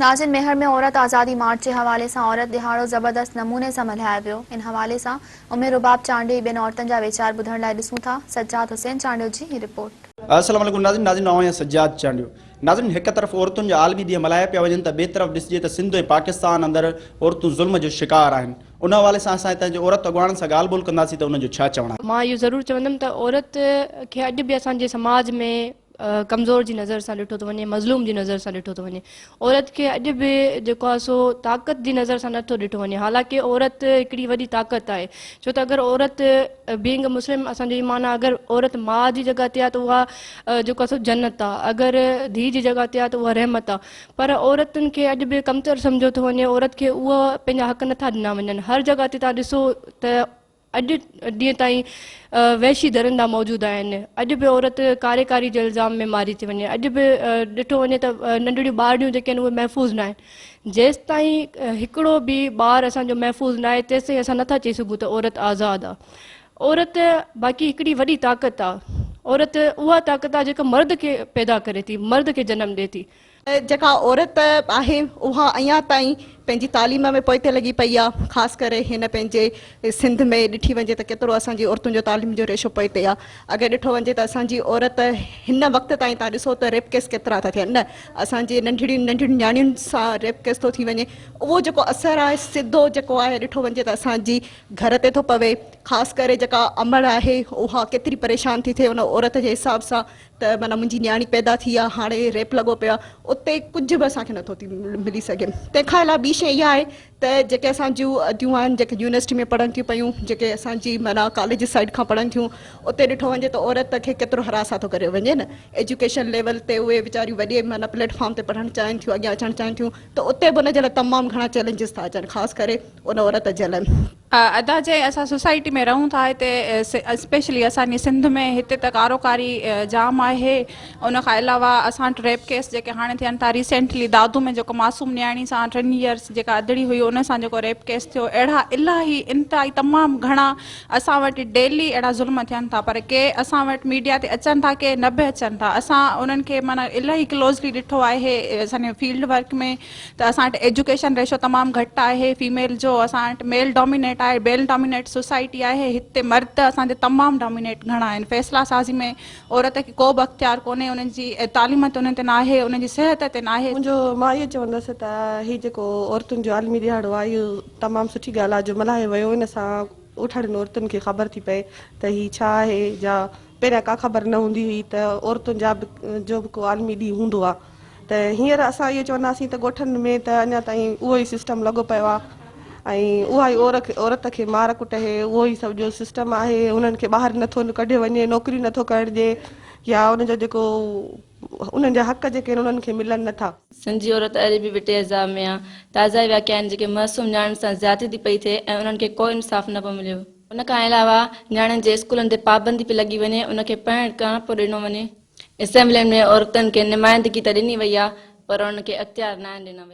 ناظم ميهڙ ۾ عورت آزادي مارچ جي حوالي سان عورت ڏهاڙو زبردست نموني سان ملهايو ويو ان حوالي سان امي رباب چانڊيو ۽ ٻين عورتن جا ويچار ٻڌڻ لاء ڏسون ٿا سجاد حسين چانڊيو جي هي رپورٽ. السلام عليڪم ناظرين ناظرين مان آهيان سجاد چانڊيو ناظرين هڪ طرف عورتن جا عالمي ڏينهن ملهايا پيا وڃن ته ٻئي طرف ڏسجي ته سنڌ ۽ پاڪستان اندر عورتون ظلم جو شڪار آهن ان حوالي سان اسان هتان جي عورت اڳواڻن سان ڳالهه ٻولهه ڪنداسين ته انهن جو ڇا چوڻ آهي. مان اهو ضرور چوندم ته عورت کي اڄ به اسان جي سماج ۾ ڪمزور جي نظر سان ڏٺو ٿو وڃي، مظلوم جي نظر سان ڏٺو ٿو وڃي. عورت کي اڄ به جيڪو آهي سو طاقت جي نظر سان نه ٿو ڏٺو وڃي حالانڪ عورت هڪڙي وڏي طاقت آهي ڇو ته اگر عورت بينگ مسلم اسان جو ايمان آهي اگر عورت ماء جي جڳهه تي آهي ته اها جيڪو آهي سو جنت آهي اگر ڌيء جي جڳهه تي آهي ته اها رحمت آهي پر عورتن کي اڄ به ڪمتر سمجهيو ٿو وڃي عورت کي اهو پنهنجا حق نه ٿا ڏنا وڃن هر جڳهه تي تان ڏسو ته اڄ ڏينهن تائين وحشي درندا موجود آهن، اڄ به عورت ڪاري ڪاري جي الزام ۾ ماري ٿي وڃي، اڄ به ڏٺو وڃي ته ننڍڙيون ٻارڙيون جيڪي آهن اهي محفوظ ناهن، جيستائين هڪڙو به ٻار اسان جو محفوظ ناهي تيستائين اسان نٿا چئي سگهون ته عورت آزاد آ. عورت باقي هڪڙي وڏي طاقت آ، عورت اها طاقت آ جيڪا مرد کي پيدا ڪري ٿي، مرد کي جنم ڏي ٿي. جيڪا عورت آهي اها اڃا تائين پنهنجي تعليم ۾ پوئتي لڳي پئي آ خاص ڪري هن پنهنجي سنڌ ۾ ڏٺي وڃي ته ڪيترو اسان جي عورتن جو تعليم جو ريشو پوئتي آ اگر ڏٺو وڃي ته اسان جي عورت هن وقت تائين تان ڏسو ته ريپ ڪيس ڪيترا ٿا ٿين نه اسان جي ننڍڙي ننڍڙي نياڻين سان ريپ ڪيس ٿو ٿي وڃي اهو جيڪو اثر آهي سڌو جيڪو آهي ڏٺو وڃي ته اسان جي گهر تي ٿو پوي خاص ڪري جيڪا امڙ آهي اها ڪيتري پريشان ٿي ٿئي ان عورت جي حساب سان ته معنيٰ منهنجي نياڻي پيدا ٿي آ هاڻي ريپ لڳو پيو آ اتي ڪجهه به اسان کي نٿو ٿي ملي سگهي تنهن کان علاوه ٻي شيء اها آهي ته جيڪي اسان جون اديون آهن جيڪي يونيورسٽي ۾ پڙهن ٿيون پيون جيڪي اسان جي معنيٰ ڪاليج سائيڊ کان پڙهن ٿيون اتي ڏٺو وڃي ته عورت کي ڪيترو حراس ٿو ڪريو وڃي نه ايجوڪيشن ليول تي اهي ويچاريون وڏي معنيٰ پليٽ فارم تي پڙهڻ چاهين ٿيون اڳيان اچڻ چاهين ٿيون ته اتي به ان جي لاء تمام گهڻا چئلينجز ٿا اچن خاص ڪري ان عورت جي لاء ادا جي اسان سوسائٽي ۾ رهون ٿا هتي اسپيشلي اسان جي سنڌ ۾ هتي ته ڪارو ڪاري جام آهي ان کان علاوه اسان وٽ ريپ ڪيس جيڪي هاڻي ٿين ٿا ريسينٽلي دادو ۾ جيڪو معصوم نياڻي سان ٽن ييئرس جيڪا ادڙي هئي ان سان جيڪو ريپ ڪيس ٿيو اهڙا الاهي انتهائي تمام گهڻا اسان وٽ ڊيلي اهڙا ظلم ٿين ٿا پر ڪي اسان وٽ ميڊيا تي اچن ٿا ڪي نه به اچن ٿا اسان انهن کي معنيٰ الاهي ڪلوزلي ڏٺو آهي اسان جي فيلڊ ورڪ ۾ ته اسان وٽ ايجوڪيشن ريشو تمام گهٽ آهي فيميل جو اسان وٽ ميل ڊومينيٽ آهي بيل ڊومينيٽ سوسائٽي آهي هتي مرد اسان جا تمام ڊومينيٽ گهڻا آهن فيصلا سازي ۾ عورت کي ڪو به اختيار ڪونهي انهن جي تعليم تي انهن تي ناهي انهن جي صحت تي ناهي. منهنجو مان اهو چوندس ته هي جيڪو عورتن جو عالمي ڏهاڙو آهي اهو تمام سٺي ڳالهه آهي جو ملهايو ويو ان سان اٺڙين عورتن کي خبر ٿي پئي ته هي ڇا آهي جا پهريان ڪا خبر نه هوندي هئي ته عورتن جا به جو به ڪو عالمي ڏينهن هوندو آ ته هينئر اسان اهو چونداسين ته ڳوٺن ۾ ته اڃا تائين اهو ئي سسٽم لڳو پيو آ ۽ اها ئي عورت عورت کي مار ڪٽ هي اهو ئي سڀ جو سسٽم آهي انهن کي ٻاهر نه ٿو ڪڍيو وڃي نوڪري نه ٿو ڪرڻ ڏي يا ان جو جيڪو انهن جا حق جيڪي آهن انهن کي ملن نه ٿا. سنڌ جي عورت اڄ به وٽي عذاب ۾ آ تازا ئي واقعا آهن جيڪي معصوم نياڻين سان زيادتي ٿي پئي ٿئي ۽ انهن کي ڪو انصاف نه پيو مليو. ان کان علاوه نياڻين جي اسڪولن تي پابندي پئي لڳي وڃي ان کي پڻ ڪهڻ پئي ڏنو وڃي. اسيمبلين ۾ عورتن کي نمائندگي ته ڏني وئي آهي پر انهن کي اختيار ناهن ڏنا ويا.